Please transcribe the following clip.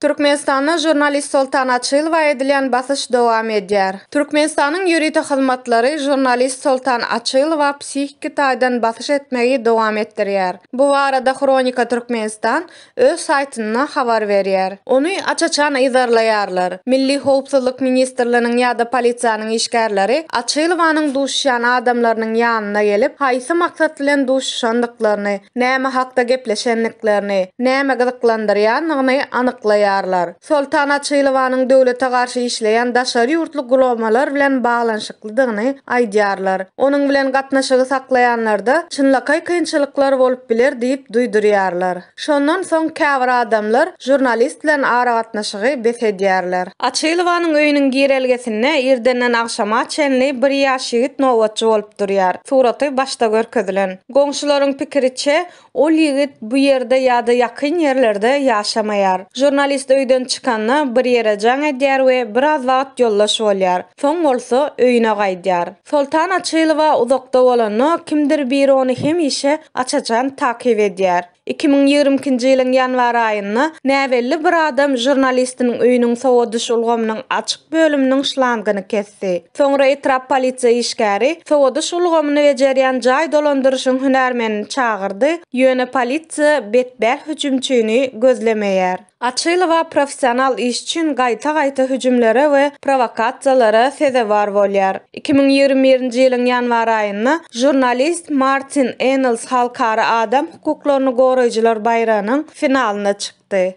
Türkmenistanda žurnalist Soltan Açylowa edilýän basyş dowam edýär. Türkmenistanyň ýörite hyzmatlary žurnalist Soltan Açylowa psihiki taýdan basyş etmegi dowam etdirýär. Bu barada Hronika Türkmenistan öz saýtynda habar berýär. Ony aç-açan yzarlaýarlar. Milli howpsuzlyk ministrliginiň ýa-da polisiýanyň işgärleri Açylowanyň duşuşýan adamlarynyň ýanyna gelip, haýsy maksat bilen duşuşandyklaryny, näme hakda gepleşendiklerini, näme gyzyklandyrýandygyny anyklaýarlar. Soltan Açylowanyň döwlete garşy işleýän daşary ýurtly guramalar bilen baglanyşyklydygyny aýdýarlar. Onuň bilen gatnaşygy saklaýanlarda çynlakaý kynçylyklar bolup biler diýip duýdurýarlar. Şondan soň käbir adamlar žurnalist bilen aragatnaşygy bes edýärler. Açylowanyň öýüniň girelgesinde irdenden agşama çenli bir ýaş ýigit nobatçy bolup durýar, suraty başda görkezilen. Goňşularyň pikiriçe, ol ýigit bu ýerde ýa-da ýakyn ýerlerde ýaşamaýar. Žurnalist öýden çykanda bir ýere jaň edýär we biraz wagt ýoldaş bolýar. Soň bolsa öýüne gaýdýar. Soltan Açylowa uzakda bolanda kimdir biri ony hemişe aç-açan takyp edýär. Iki müň ýigrimi ikinji ýylyň ýanwar aýynda näbelli bir adam žurnalistiniň öýüniň sowadyş ulgamynyň açyk bölüminiň şlangyny kesdi. Soňra etrap polisiýa işgäri sowadyş ulgamyny bejerýän jaý dolandyryşyň hünärmenini çagyrdy, ýöne polisiýa betbäh hüjümçini gözlemeýär. Açylowa professional iş üçin gaýta-gaýta hüjümlere we prowokasiýalara sezewar bolýar. Iki müň ýigrimi birinji ýylyň ýanwar aýynda žurnalist Martin Enels halkara adam hukuklaryny goraýjylar baýragynyň finalynda çykdy.